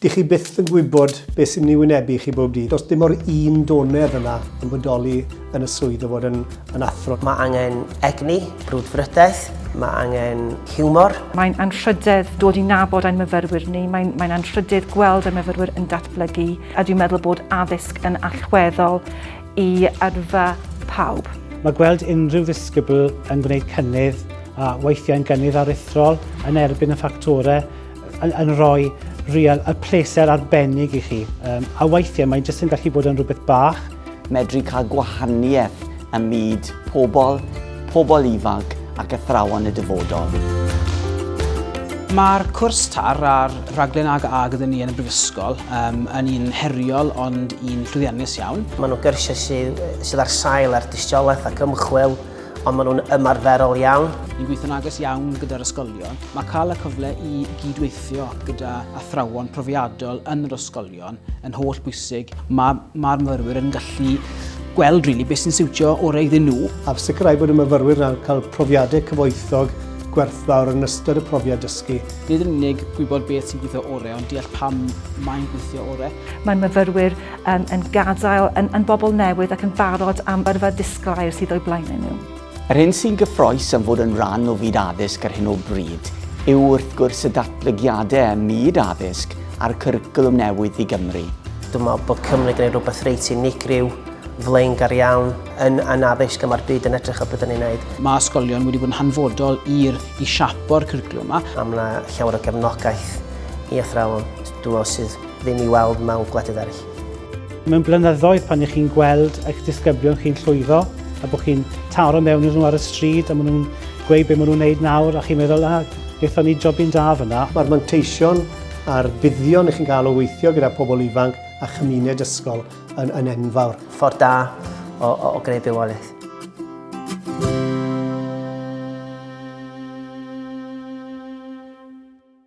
Dych chi byth yn gwybod beth sy'n mynd i wynebu chi bob dydd. Does dim o'r un donedd yna yn bodoli yn y swydd o fod yn, yn athro. Mae angen egni, brwdfrydaeth, mae angen hiwmor. Mae'n anrhydedd dod i nabod ein myfyrwyr ni, mae'n, mae'n anrhydedd gweld ein myfyrwyr yn datblygu, a dwi'n meddwl bod addysg yn allweddol i yrfa pawb. Mae gweld unrhyw ddisgybl yn gwneud cynnydd a weithiau'n gynnydd aruthrol yn erbyn y ffactorau yn, yn rhoi real, y pleser arbennig i chi. Um, a weithiau mae'n jyst yn gallu bod yn rhywbeth bach. Medru cael gwahaniaeth ym myd pobl pobl ifanc ac athrawon y dyfodol. Mae'r cwrs TAR a'r rhaglen AG a gyda ni yn y Brifysgol um, yn un heriol ond un llwyddiannus iawn. Maen nhw'n gyrsiau sydd, sydd ar sail ar dystiolaeth ac ymchwil, ond maen nhw'n ymarferol iawn. Ni'n gweithio'n agos iawn gyda'r ysgolion. Mae cael y cyfle i gydweithio gyda athrawon profiadol yn yr ysgolion Yn yn holl bwysig, mae mae'r myfyrwyr yn gallu gweld really beth sy'n siwtio orau iddyn nhw. A sicrhau bod y myfyrwyr yn cael profiadau cyfoethog gwerthfawr yn ystod y profiad dysgu. Nid yn unig gwybod beth sy'n gweithio orau, ond deall pam mae'n gweithio orau. Mae'n myfyrwyr um, yn gadael yn, yn bobl newydd ac yn barod am yrfa disglair sydd o'i blaen nhw. Yr hyn sy'n gyffrous am fod yn rhan o fyd addysg ar hyn o bryd yw wrth gwrs y datblygiadau ym myd addysg a'r cwricwlwm newydd i Gymru. Dwi'n meddwl bod Cymru wedi gwneud rhywbeth reit unigryw, flaengar iawn, yn, yn addysg a mae'r byd yn edrych ar beth dan ni'n gwneud. Mae ysgolion wedi bod yn hanfodol i'r, i siapo'r cwricwlwm yma. A mae yna llawer o gefnogaeth i athrawon, dwi'n meddwl, sydd ddim i weld mewn gwledydd eraill. Mewn blynyddoedd pan ych chi'n gweld eich disgyblion chi'n llwyddo a bod chi'n taro mewn iddyn nhw ar y stryd a maen nhw'n gweud beth maen nhw'n wneud nawr a chi'n meddwl, a, wnaethon ni jobyn da fyna. Mae'r manteision a'r buddion ych chi'n cael o weithio gyda pobl ifanc a chymuned ysgol yn, yn enfawr. Ffordd da o, o, o greu bywoliaeth.